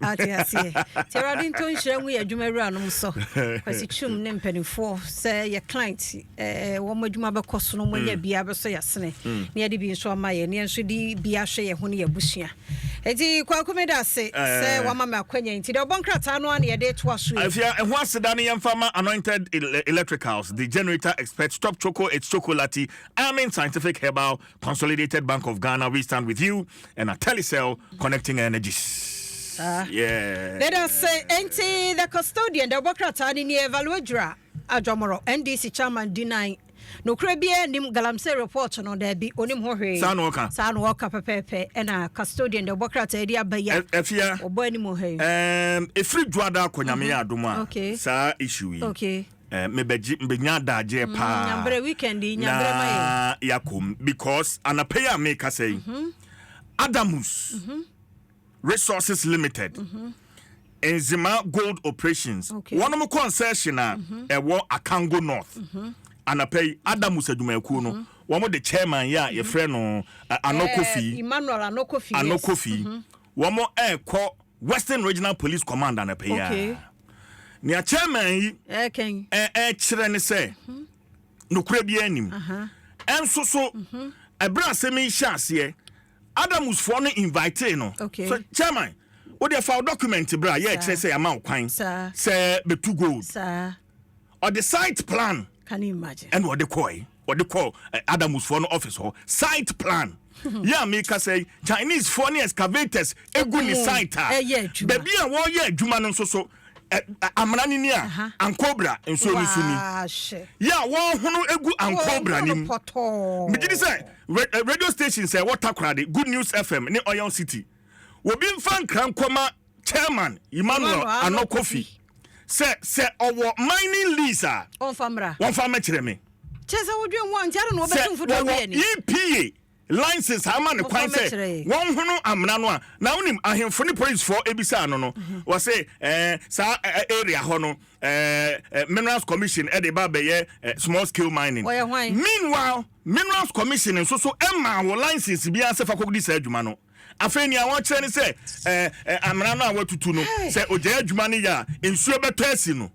Ate aseɛ. Nti Awurade nto nhyira ngu yɛ adwuma awura nom so. Kwasi Twum ne mpanimfoɔ sɛ yɛ client eh, wɔn adwuma bɛkɔ so no wɔanya mm. bia bɛsɔ yɛ asene mm. ne yɛde bi nso ama yɛ ne yɛn nso de bi ahwɛ yɛn ho ne yɛ abusua. Eti kwaku mi da ase eh. sɛ wama mi akwanya nti deɛ ɔbɔ nkrataa no a na yɛde to aso yi. Afia ɛho aseda ne yɛn fa ma anointed electricals the generator expert stop choco it's chocolate amen scientific herbal Consolidated Bank of Ghana, we stand with you, and a Telecel connecting energies. Uh, yeah. Let us say, Enti, the custodian, the Bokrata, ni Evaluadra, Ajomoro, NDC chairman, denying. nokorɛ biara nim galamsey report no daabi ɔnim ho hwee saa na ɔka saa na ɔka pɛpɛɛpɛ ɛna custodian de ɔbɔ krataa de aba yi a afia ɔbɔ anim ha yi ɛfiri dwoada akɔnyame yɛ adom a saa issue yi Eh, mebɛgye mbɛnya adagyeɛ paa Nyabrɛ weekend yi, na nyabrɛ ma yɛ. yɛakɔ mu because anapa yi a merekasa yi adamus resources limited nzema gold operations Okay. wɔnom concession a ɛwɔ akango north anapa yi adamus adwumakuo no wɔn de chairman yɛ a yɛfrɛ no eh, ano Eh, kofi Emmanuel Anokofi. ano yes. kofi wɔn ɛrekɔ Western Regional Police Command anɔpa yi ara. Nea chairman yi ɛrekyerɛ ne sɛ mhm. nokorɛ biara nim. Ɛnso so mhm. ɛberɛ asɛm yi hyɛ aseɛ Adamusfoɔ no invite no. So chairman wode fa document bra yɛ ɛkyerɛ sɛ yɛama wo kwan sɛ bɛtu gold. ɔde site plan ɛna ɔde kɔe ɔde kɔ eh, adamusfoɔ no office hɔ site plan yɛ a meka sɛ chinese foɔ ne excavators egu ne site a baabi a wɔreyɛ adwuma no nso so eh, eh, amena no ni a ankobra nsuo no so ni yɛ a wɔhono egu ankobra no mu megye di sɛ radio station sɛ wɔtakora de good news fm ne oil city obi mfa nkra nkɔma chairman emmanuel ano kofi sɛ sɛ ɔwɔ mining lease a wɔmfa mmra wɔmfa mmɛkyerɛ me kyɛ sɛ wodwen ho a nti ade na wɔbɛtu mfodoɔ bi ani epa license ama ne kwan sɛ wɔnhono amena no a na wonim ahemfo ne policefoɔ ebisaa no no mhm. wɔse eh, saa eh, eh, area hɔ no eh, eh, minerals commission ɛde eh, ba bɛyɛ eh, small scale mining meanwhile minerals commission nso so ɛmaa wɔ license biara sɛ fa kɔdi saa adwuma no Afei nea wɔkyerɛ ne sɛ ɛɛ ɛ, amena no a wɔatutu no, sɛ ogyae adwuma no yɛ a, nsuo bɛtɔ asi no.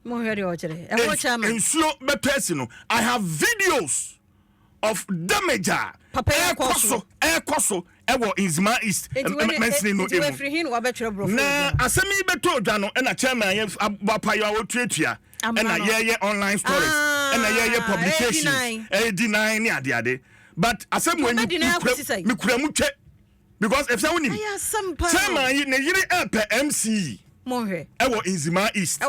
Mohwɛ deɛ ɔkyerɛ. Ɛho kyɛ ama. Nsuo bɛtɔ asi no. I have videos of damage a ɛkɔ so ɛkɔ so ɛwɔ Nzima East mansini no emu. Na asɛm yi bɛtɔ odwa no ɛna chairman yɛ abɔ apayɔ a ɔtuatua ɛna yɛyɛ online stories ɛna yɛyɛ publications ɛyɛ di nan ne adeade. but asɛm wɔ yi mekura mu twɛ because ɛfisɛ wonim sɛ ma ne yere ɛpɛ mc yi ɛwɔ nzimaa east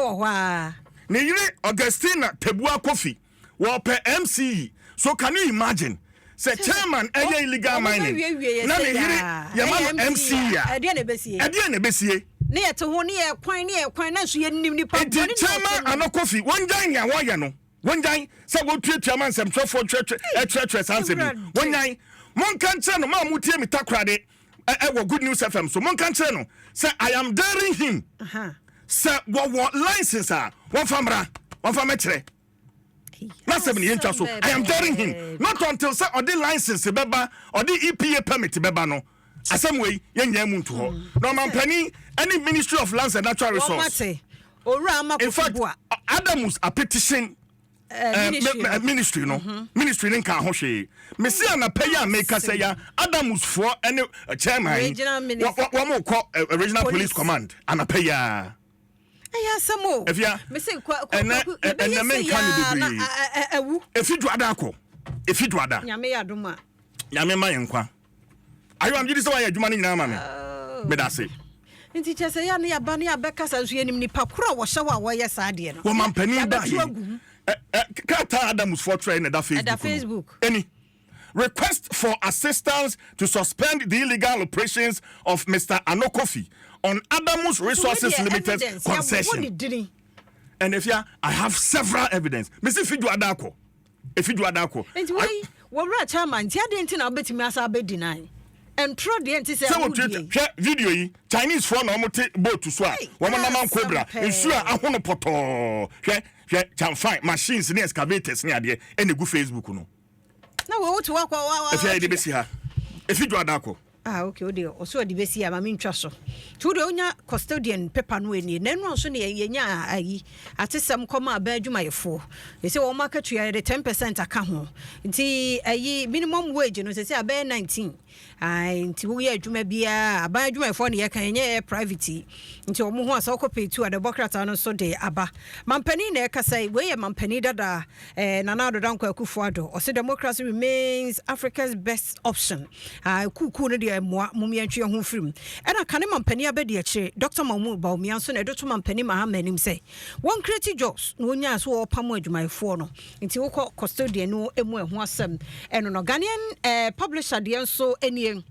ne yere augustina tabua kofi wɔpɛ mc yi so can you imagine sɛ chairman ɛyɛ illegal mining na ne yere yɛma no mc a ɛdeɛ na ɛbɛsie ne yɛte ho ne yɛ kwan ne yɛ kwan na nso yɛnim nipa nti chairman anɔkofi wɔngyan nea wɔyɛ no Wonnyae sɛ wotuatua ma nsɛmtwerɛfoɔ kyerɛkyerɛ saa nsɛm yi. Wonnyae. Monka nkyerɛ no, mo a motie me takorade wɔ Good News FM so, monka nkyerɛ no sɛ I am daring him. Sɛ wɔwɔ license a, wɔmfa mmra, wɔmfa mɛkyerɛ. Na sɛm ne yɛntwa so. I am daring him. Not until sɛ ɔde license bɛba, ɔde EPA permit bɛba no. Asɛm wei, yɛnnya emu nto hɔ. Hmm. Na ɔmampanin ne Ministry of Lands and Natural Resource. Owura Ama Kofi-Boa. Adamus Apetition Eh, eh, ministry no mhm. ministry no nka ho hwee mesi hmm. anapa yi a meka sɛ ya adamusfoɔ ne eh, chairman wɔn kɔ regional police command anapa yi a ɛyɛ asɛm o ɛfia ɛnɛ ɛnɛ menka no bebree ɛfi duada akɔ ɛfi duada nyame ma yɛn nkwa Ayo am gyidi sɛ wayɛ adwuma no nyinaa ama me. Oh. Meda ase. Nti kyɛ sɛ yɛ ne yɛba ne yɛbɛkasa nso yɛnim nipa koro a wɔhyɛ hɔ a wɔyɛ saa deɛ no. Wɔ mampanin ba he. Krataa Adamsfoɔ twerɛ na ɛda Facebook. Ɛda Facebook. Ɛni. Request for assistance to suspend the illegal operations of Mr. Ano Kofi on Adamus Resources Limited concession. And if ya, I have several evidence. Mesi fi do adako. Efi dwoada akɔ. Nti wei wɔ wura chairman nti adeɛ nti na wobɛtumi asa abɛdi nan ntorɔ deɛ nti sɛ wo deɛ yi. Hwɛ video yi Chinese foɔ na wɔn te boat so a wɔn nam ankobra nsuo a ahono pɔtɔɔ hwɛ hwɛ chamfan machines ne excavators ne adeɛ ɛna egu Facebook no. Na wei wote wakɔ wa wa. Efi ayɛ de besi ha efi dwoada akɔ. Ah okay wode ɔsɛ ɔde bɛsi ama me ntwa so nti wode wonya custodian paper no ɛnie na ɛno nso ne yɛnya ayi atesɛm kɔma abɛn adwumayɛfoɔ ɛsɛ wɔn akatua yɛde 10 percent aka ho nti ayi minimum wage no sɛ sɛ abɛyɛ 19 ai nti woyɛ adwuma biara aban adwumayɛfoɔ ne yɛka ɛnyɛ yɛ private yi nti wɔn ho asɛ wokɔ pay tu a dɛbɔ krataa no nso de aba mampanin na ɛkasa yi wei yɛ mampanin dadaa Eh, Nana Ado Dankwa Akufo Ado, ɔse democracy remains Africa's best option. Ah, kuukuu no deɛ mmoa, mom yɛntwe yɛn ho mfiri mu. Ɛna kane mampanin abɛdi akyire, Dɔkta Mahmood Bawumia nso na ɛde to mampanin Mahama anim sɛ, wɔnkreti jobs na wɔnyae so wɔrepamo adwumayɛfoɔ no. Nti wokɔ custodian no mu a ɛho asɛm. Ɛno no, Ghanaian eh, publisher deɛ nso nie.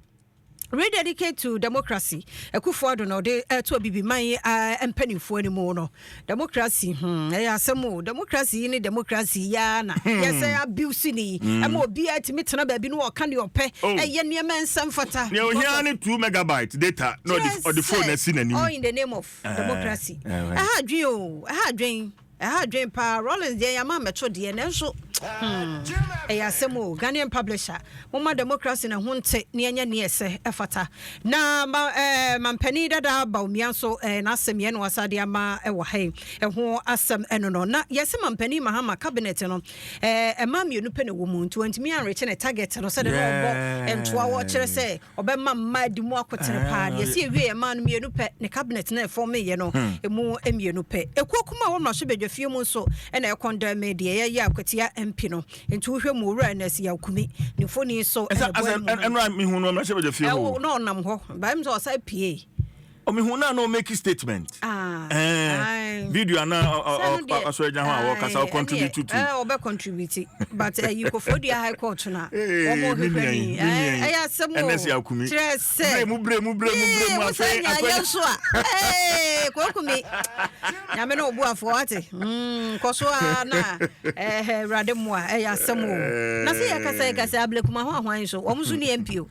Rededicate to Democracy, Akufo Addo na ɔde reto Abibiman mpanimfoɔ anim no. Democracy, hmm, ɛyɛ asɛm o. Democracy yi ne democracy yi ara na hmm. yɛsɛ abuse ni. Hmm. Ɛma obiara tumi tena baabi na ɔka deɛ ɔpɛ, oh. ɛyɛ nneɛma nsa mfata. Nea ohia ne two megabyte data na ɔde phone asi n'anim. All in the name of eh, democracy. Eh, eh. Ɛha adwen o, ɛha adwen. Ɛha adwen paa Rawlings deɛ yɛama mmɛto deɛ nanso hmm ɛyɛ asɛm o Ghanaian publisher momma democracy no ho nte ne ɛnyɛ neɛ ɛsɛ ɛfata na ma ɛɛ mampanin dada Bawumia nso ɛɛ n'asɛm yɛn na wasa de ama ɛwɔ ha yi ɛho asɛm ɛno no na yɛsɛ mampanin Mahama cabinet no ɛɛ ɛma mmienu pɛ na ɛwɔ mu nti wɔntumi anrekye ne target no sɛdeɛ na ɔbɔ ntoa wɔ kyerɛ sɛ ɔbɛma mma adi mu akotere paa deɛ ɛsi ɛwie yɛ mmaa no mmienu pɛ ne cabinet na ɛfɔmeyɛ no hmm. ɛmu mmienu pɛ ɛkuo kuma a wɔmmra so bɛdwa fie mu nso ɛna ɛkɔndɛn me deɛ yɛyɛ akwatia mpi no nti wohwɛ mu owura ɛna ɛsi yɛakumi ne mfoni so ɛnɛ bɔ ɛmu ɛnora mehu no mmra so bɛdwa fie hɔ na ɔnam hɔ bɛm sɛ ɔsa pie ɔmehu na na ɔmake statement ah, eh, video ana ɔsɔre gya ho a wɔkasa ɔcontribute to ɔbɛ contribute but ɛyi eh, kɔfɔ dua high court no a wɔn ɔhwehwɛ ni ɛyɛ asɛm o kyerɛ sɛ mu bere mu bere mu bere mu afɛ akɔyɛ nso a eh, kɔnkumi nyame na ɔbu afɔ ate hmm, nkɔso a na ɛɛ awurade mu a ɛyɛ asɛm o na sɛ yɛ kasa yɛ kasa abilekuma ho ahoan so wɔn nso ni mpo.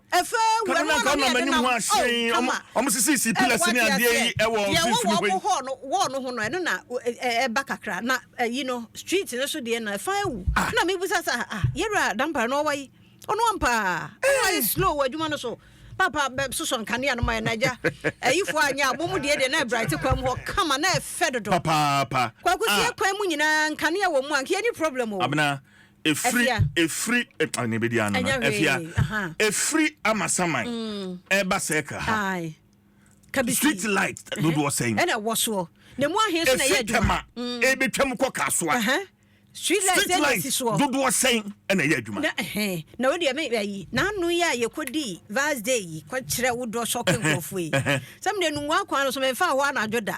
Kane no anka ɔnam anim ho ahyɛn, wɔn sisisii pillars ne adeɛ yi wɔ mfimfini hɔ yi. Wɔn no ho no ɛno na ɛba kakra na ɛyi no street no so deɛ no ɛfa awu ah. na mebisa sɛ ah yɛwura dampare no ɔwa yi ɔno ampaa ɔno ayɛ eh. slow wɔ adwuma no so papa bɛsosɔ nkanea no ma yɛ nagya ayifo anyɛ abɔ mu deɛ deɛ na ɛbrɛte kwan mu hɔ kama na ɛfɛ dodo papaapa kwakusie ah. kwan mu nyinaa nkanea wɔ mu anka yɛni problem o abena Ɛfiri, ɛfiri, ɛpa ne bɛdi ano no. Ɛfia, ɛfiri amasaman. Mm. Ɛba circle ha. Street light dodoɔ sɛn. Ɛna ɛwɔ soɔ. Na mu ahe nso na ɛyɛ adwuma. Mm. Ɛbɛtwa mu kɔ kasoa. Street light ɛna ɛsi soɔ. Dodoɔ sɛn ɛna ɛyɛ adwuma. Na ɛhɛn na o deɛ mɛ ɛyi n'ano yi a yɛkɔ di vals day yi kɔ kyerɛ wo dɔ sɔke nkorɔfoɔ yi. Sɛm de nungua kwan no so mɛ nfa hɔ anadwo da.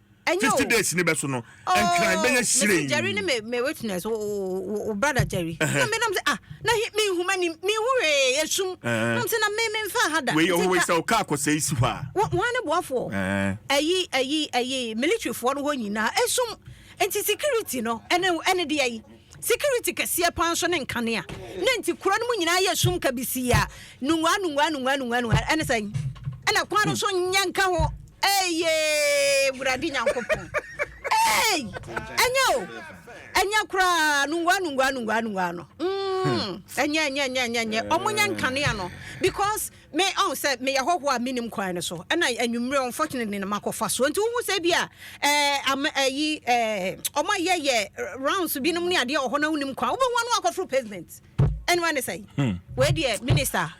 Ɛnyɛ o. Fifty days ni bɛ so no. Nkran bɛyɛ siren. Mesi Jerry ne me me witness wo wo wo brother Jerry. Na me nam se ah na he me nhu mani me nhu hwee esum. Nam se na me me nfa ha da. Wei yɛ wei sɛ ɔka akɔsɛ esi hɔ a. Wɔ wɔn ne boafoɔ. Ɛyi ɛyi ɛyi military foɔ no hɔ nyinaa esum. Nti security no ɛne ɛne deɛ yi. Security kɛseɛ paa nso ne nkanea ne nti kuro no mu nyinaa yɛ sum kabisii a nungua nungua nungua nungua nungua ɛne sɛn ɛna kwan no so nyɛ nka ho ɛyɛ wurade nyankopɔn ɛy ɛnyɛ o ɛnyɛ koraa nungua nungua nungua nungua no ɛnyɛ ɛnyɛ ɛnyɛ ɛnyɛ ɛnyɛ ɔmo nyɛ nkanea no because Me, ɔn, sɛ meyɛ hɔhoɔ a mennim kwan no so, ɛna anwummerɛ unfortunately na makɔfa soɔ. Nti wohu sɛ bi a, ɛɛ, am, ayi, ɛɛ, wɔn a yɛyɛ rounds binom ne adeɛ wɔ hɔ na wonim kwan, wobɛhu wɔn akɔforo pavement. Ɛne wɔn ne sɛ, wei deɛ, minister,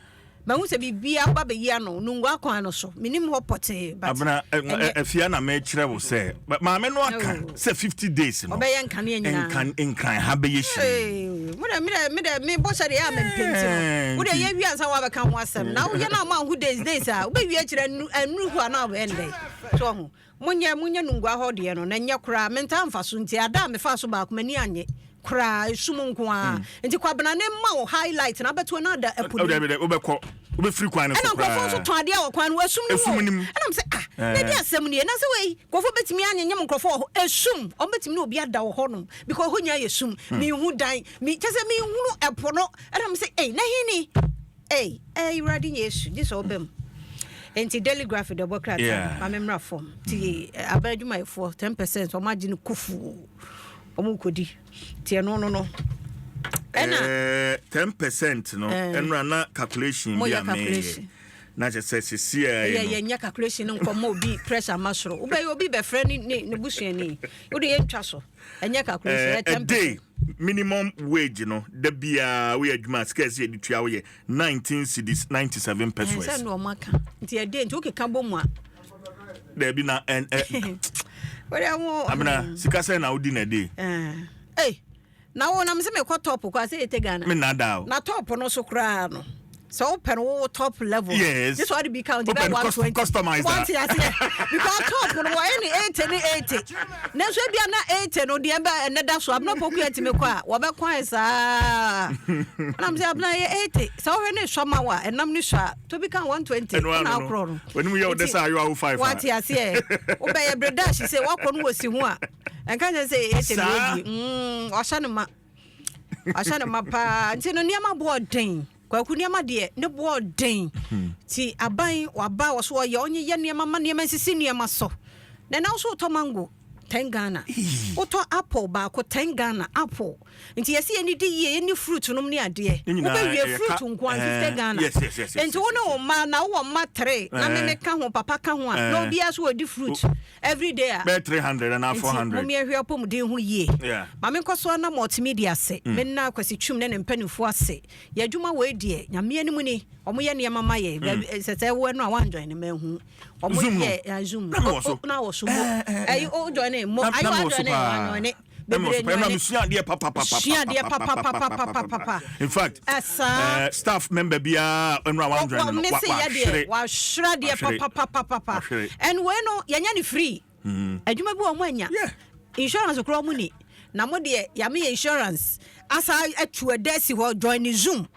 mahu sɛ biribi aba bɛyi ano, Nungua kwan no so, mennim hɔ pɔtee, but. Abena, ɛnɛ. Afia na mekyerɛ wo sɛ, maame no aka. Sɛ fifty days no. Ɔbɛyɛ nkanea nyinaa. Nkan nkran ha bɛyɛ hyire. Hey, mo dɛ me dɛ me dɛ me bɔ hyɛ de yɛ a me mpɛ nti no. Eh, Wo dɛ yɛ wie ansa wa bɛka ho asɛm. Na wo yɛ na ma ho days days a wo bɛ wie akyerɛ anu anu ho a na ɔbɛ ndɛ. So ho. Mo nyɛ mo nyɛ nungua hɔ deɛ no na nyɛ koraa. Me ntaa mfa so nti ada a me fa so baako m'ani anye. koraa esu mu nko ara hmm. nti kwabena ne mma wo highlight na abɛto na ada ɛpo nim ɛdɛ wobɛkɔ wobɛfiri kwan no so koraa ɛna nkurɔfoɔ nso tɔn adeɛ wɔ kwan no esum no wɔ ɛna mo sɛ ah eh. na di asɛm nie na sɛ wei nkurɔfoɔ bɛtumi anyenyem nkurɔfoɔ wɔ hɔ esum wɔn bɛtumi na obi ada wɔ hɔ nom because hɔ nyinaa yɛ sum hmm. mihu dan mi kyɛ sɛ mihunu ɛpo no ɛna mo sɛ ei na hini ei ɛyi wura di nyɛ esu gye sɛ ɔbɛ mu nti daily graphic dɔbɔ krataa ma me mmra fam nti eh, abɛn adwumayɛfoɔ ten percent wɔn agye no kufuu. Ɔmo kodi. Ti ɛno no no. Ɛna. Ɛɛ ten percent no. Ɛɛ. Ɛno na calculation bi a meyɛ. Na kyɛ sɛ sisi a yɛ no. Ɛyɛ yɛn nyɛ calculation no nkɔ mo obi pressure ma soro. Wobɛ yɛ obi bɛfrɛ ne ne ne busuani. Wode yɛ ntwa so. Ɛnyɛ calculation ɛyɛ ten percent. Ɛde minimum wage no da biara woyɛ adwuma sika ɛsɛ yɛde tua woyɛ nineteen cedis ninety seven pesos. Ɛnsɛ na ɔmo aka. Nti ɛde nti wokeka bɔ mu a. daabi na ɛn ɛ. wọ́n yà wọ́n. amina hmm. sika sẹ́yìn na ó di na dé. ee na wo nam sɛ mekɔ top kɔ asɛ yɛtɛ ghana me nada o na top no so koraa no sɛ wopɛ no wo top level yes this one be count bɛ one twenty customize one ti aseɛ because top no wɔ ɛni eighty ne eighty ne nso ebi ana eighty no deɛ bɛ ɛnɛ da so abena poku yɛ tìmi kɔ a wɔbɛ kwan saa ɛnam sɛ abena yɛ eighty sɛ wɔhwɛ ne sɔ ma wa ɛnam ne sɔ a. to bi ka one twenty ɛna akorɔ no w'anim yɛ ɔdɛ sɛ ayɔ awo five wate aseɛ wobɛyɛ bere dash sɛ woakɔ no wɔ si ho a ɛnka kyɛ sɛ ɛyɛ tɛm ɛdi mm, wahyɛ no ma wahyɛ no ma paa nti no nneɛma boɔ den kwaku nneɛma deɛ ne boɔ den hmm. ti aban waba wɔ so ɔyɛ ɔnye yɛ nneɛma ma nneɛma nsisi nneɛma so na ɛna nso wotɔ mango ten ghana wotɔ apple baako ten ghana apple nti yɛsi yɛ ni di yie yɛ ni fruit nom ne adeɛ wobɛ wie fruit nko anti sɛ Ghana nti wo ne wo mma na wowɔ mma tere na me me ka ho papa ka ho a na obiara so wɔdi fruit every day a bɛɛ three hundred anaa four hundred nti mo miɛhwɛ apɔmuden ho yie maame nkɔsoa na multimedia ase me nna akwasi twum ne ne mpanimfoɔ ase yɛ adwuma wɔ ediɛ nyameɛ no mu ni wɔn yɛ nneɛma ma yɛ bɛɛ sɛ sɛ ɛwɔ ɛno a wɔn anjoin ne mɛ hu wɔn yɛ zoom na wɔ so ɛyi o join ne mo ayi wɔ join ne wɔn anjoin ne. bebree nnuane ɛma mesua adeɛ papapapa sua adeɛ papapapapapa in fact ɛsaa staff member biara ɛnu a wɔn dwan no wɔahwere wɔahwere adeɛ papapapapa ɛnu wei no yɛnyɛ ne free adwuma bi wɔn anya insurance kura wɔn ni na mo deɛ yame yɛ insurance asa atu ɛdɛ si hɔ join ne zoom.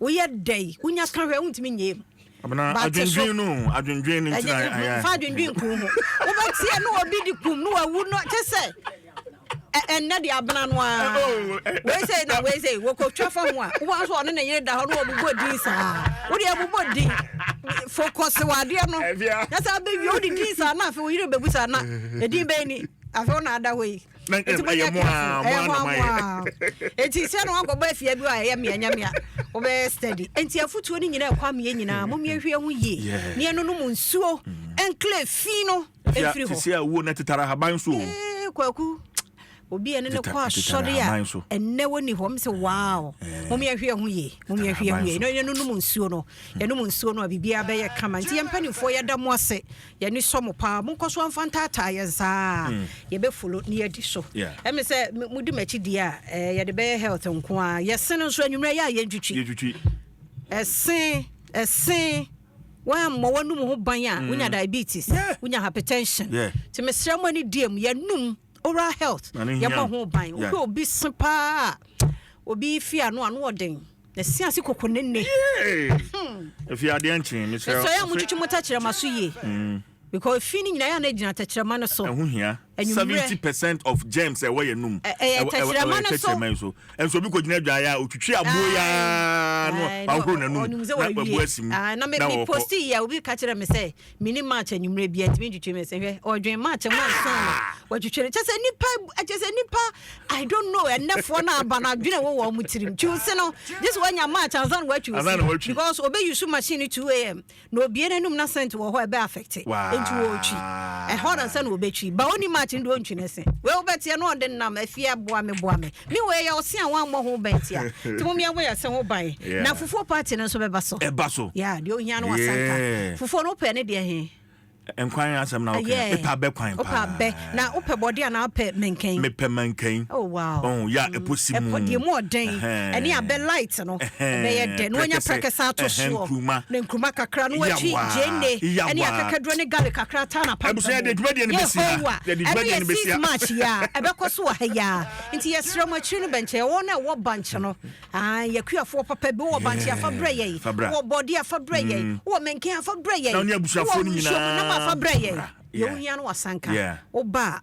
Woyɛ dɛ yi, wonya ka hwɛ, wontumi nyɛ mu. Abena, adwendwen no, adwendwen no ntina ayɛ. Fa adwendwen kuru ho. Wobɛteɛ no obi de kum no wawu no kyɛ sɛ ɛnɛ de abena no ara oh, oh, eh, eh, wei sɛ na wei sɛ wɔkɔtwa fa ho a wobɛhu nso ɔne ne yere da hɔ no wɔbobɔ din saa wode abobɔ din fokɔse wɔ adeɛ no na sɛ abɛwie wode din saa na afei wo yere bɛbu saa na ɛdin bɛyi ni afei wo na ada hɔ yi nti mo nyɛ careful ɛyɛ hɔ amoa nti sɛ na wakɔbɔ afia bi a ɛyɛ mmea nyamea wobɛyɛ steady nti afutuo no nyinaa ɛkɔ ameɛ nyinaa mo mmea hwie ho yie ne ɛno no mu nsuo ɛnklɛ fi no ɛfiri hɔ sɛ awuo no tetara haban so o kwaku obi ɛne ne kɔ asɔre a ɛnɛ wɔni hɔ mesɛ wow mom yɛhwɛ ho ye mom yɛhwɛ ho ye na yɛnonom nsuo no yɛnom nsuo no a biribiaa bɛyɛ kama nti yɛmpanimfoɔ yɛda mo ase Yɛn ani sɔ mo paa monkɔ so nfa ntaataa yɛn saa yɛbɛ follow na yɛadi so ɛmi sɛ mo di m'akyi die a eh, yɛde bɛyɛ health nko a yɛsen nso anwummerɛ yɛ a yɛn twitwi ɛsen ɛsen wɔammɔ wɔnum ho ban a wonya diabetes wonya hypertension nti mesrɛ mo ani die mu yɛnum oral health yɛbɔ ho ban wohwɛ obi se paa a obi fi ano ano ɔden na si ase koko ne ne hmm. efi adeɛ nkyen mesrɛ mesrɛ yɛ a motwitwi mo tɛkyerɛma so yie hmm. because fi no nyinaa yɛ a na ɛgyina tɛkyerɛma no so ɛho hia seventy percent of germs ɛwɔ yɛ num ɛyɛ tɛkyerɛma no so ɛyɛ so ɛnso obi kò gyina dwa yɛ a otwitwi aboɔ yɛ aa no wahoro n'anum na wabu asim na wɔkɔ na mi posti yɛ obi ka kyerɛ mi sɛ Menim March anwummerɛ bia ntumi ntwitwi me se hwɛ ɔdwen March mu ansa na watwitwi no kyɛ sɛ nipa kyɛ sɛ nipa I don't know ɛnɛfoɔ no aba no adwene wɔ wɔn tirim twi ose no gye sɛ wanya March ansa na watwi ose because obe use machine 2am na obie n'anum na scent wɔ hɔ ɛbɛ affect nti wɔtwi ɛhɔ na sɛ na obetwi ba oni March no deɛ ɔntwi ne se wei wobɛteɛ no ɔde nam afie boa me boa me Ne wei yɛ ɔse a wammɔ ho bɛn nti a. Nti mom yɛn bɔ yɛn se ho ban. Na fufuo party no nso bɛba so. Ɛba so. Yeah, deɛ ohia no wasanka. Fufuo no wopɛ ne deɛ he? Nkwan asɛm na woka. Yeah. Mepɛ abɛ kwan paa. Wopɛ abɛ. Na wopɛ bɔde anaa wopɛ mankani? Mepɛ mankani. Oh wow. Oh, yeah, ɛpo si mu. Ɛpo deɛ mu ɔden. Ɛhɛn. Ɛne abɛ light. product no ɛbɛyɛ dɛ na wanya prɛkɛ san to soɔ na nkuruma kakra na watwi gyeene ɛne akakaduro ne garlic kakra taa na pampa mu yehowa ɛno yɛ six march yi a ɛbɛkɔ so wɔ ha yi a nti yɛsrɛ mo akyiri no bɛnkyɛ wɔn na ɛwɔ bank no yɛkuafoɔ papa bi wɔ bank afa brɛ yɛn wɔ bɔde afa brɛ yɛn mm. wɔ mɛnken afa brɛ yɛn wɔ nsuo mu nam afa brɛ yɛn yɛn ohia no wasanka woba a